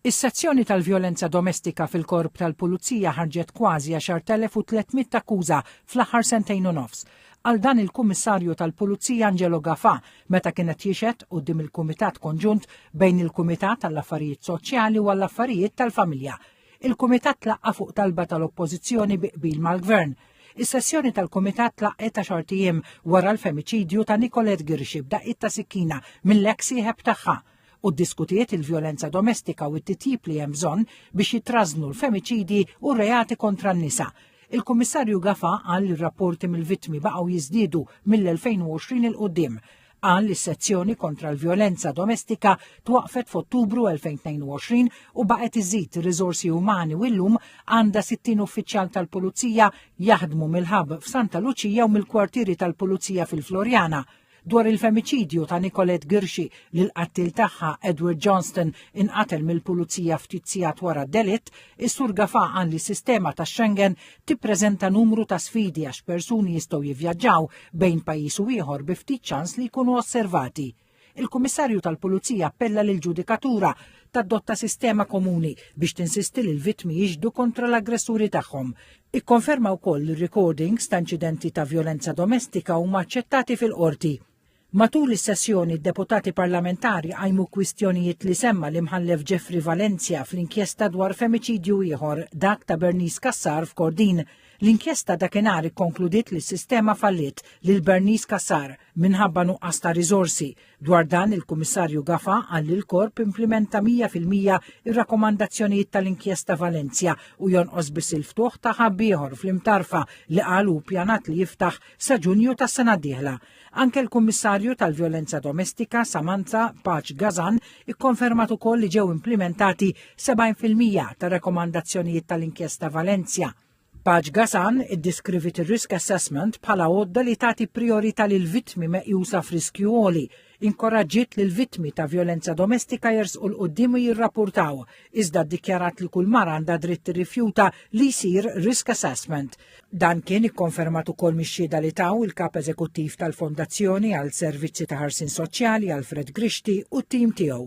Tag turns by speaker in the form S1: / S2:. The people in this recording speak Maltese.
S1: Is-sezzjoni tal-vjolenza domestika fil-Korp tal-Pulizija ħarġet kważi 10,300 akkuża fl-aħħar sentejn u nofs. Qal dan il-Kummissarju tal-Pulizija Angelo Gafà meta kien qed jixhed quddiem il-Kumitat Konġunt bejn il-Kumitat għall-Affarijiet Soċjali u għall-Affarijiet tal-Familja. Il-Kumitat tlaqqa' fuq talba tal-Oppożizzjoni bi qbil mal-Gvern. Is-sessjoni tal-Kumitat tlaqqet għaxart ijiem wara l-femiċidju ta' Nicolette Ghirxi b'daqqiet ta' sikkina mill-eks sieħeb tagħha. u ddiskutiet il-vjolenza domestika u t-titjib li hemm bżonn biex jitrażżnu l-femiċidji u r-reati kontra n-nisa. Il-Kummissarju Gafa qal li r-rapporti mill-vittmi baqgħu jiżdiedu mill-2020 'il quddiem. Qal li s-sezzjoni kontra l-vjolenza domestika twaqqfet f'Ottubru 2022 u baqgħet iżżid ir-riżorsi umani u llum għandha 60 uffiċjal tal-Pulizija jaħdmu mill-Hub f'Santa Luċija u mill-kwartieri tal-Pulizija fil-Floriana. dwar il-femiċidju ta' Nicolette Ghirxi li l-qattiel tagħha Edward Johnston inqatel mill-pulizija ftit sigħat wara d-delitt, is-Sur Gafà qal li s-sistema ta' Schengen tippreżenta numru ta' sfidi għax persuni jistgħu jivvjaġġaw bejn pajjiż u ieħor bi ftit ċans li jkunu osservati. Il-Kummissarju tal-Pulizija appella lill-ġudikatura tadotta sistema komuni biex tinsisti li l-vittmi jixhdu kontra l-aggressuri tagħhom. Ikkonferma wkoll li r-recordings ta' inċidenti ta' vjolenza domestika huma aċċettati fil-Qorti. Matul is-sessjoni d-deputati parlamentari qajmu kwistjonijiet li semma l-Imħallef Jeffrey Valencia fl-inkjesta dwar femiċidju ieħor, dak ta' Bernice Cassar f'Kordin. L-inkjesta dakinhar ikkonkludiet li s-sistema falliet lil Bernice Cassar minħabba nuqqas ta' riżorsi, Dwar dan il-Kummissarju Gafa qal li l-Korp implimenta 100 fil-mija ir-rakkomandazzjonijiet tal-Inkjesta Valencia u jonqos biss il-ftuħ ta' ħabb ieħor fl-Imtarfa li qal hu ppjanat li jiftaħ sa Ġunju tas-sena d-dieħla. Anke l-Kummissarju tal-Vjolenza Domestika Samantha Paċ Gazan ikkonfermat ukoll li ġew implimentati 70 fil-mija tar-rakkomandazzjonijiet tal-Inkjesta Valencia. Paġ Gasan iddeskriviet ir-risk assessment bħala għodda li tagħti prijorità lil vittmi meqjusa f'riskju għoli, inkoraġġiet lil vittmi ta' vjolenza domestika jersqu 'l quddiem u jirrappurtaw, iżda ddikjarat li kull mara għandha dritt tirrifjuta li jsir risk assessment. Dan kien ikkonfermat ukoll mix-xhieda li taw il-Kap Eżekuttiv tal-Fondazzjoni għal Servizzi ta' Ħarsien Soċjali, Alfred Grixti, u t-tim tiegħu.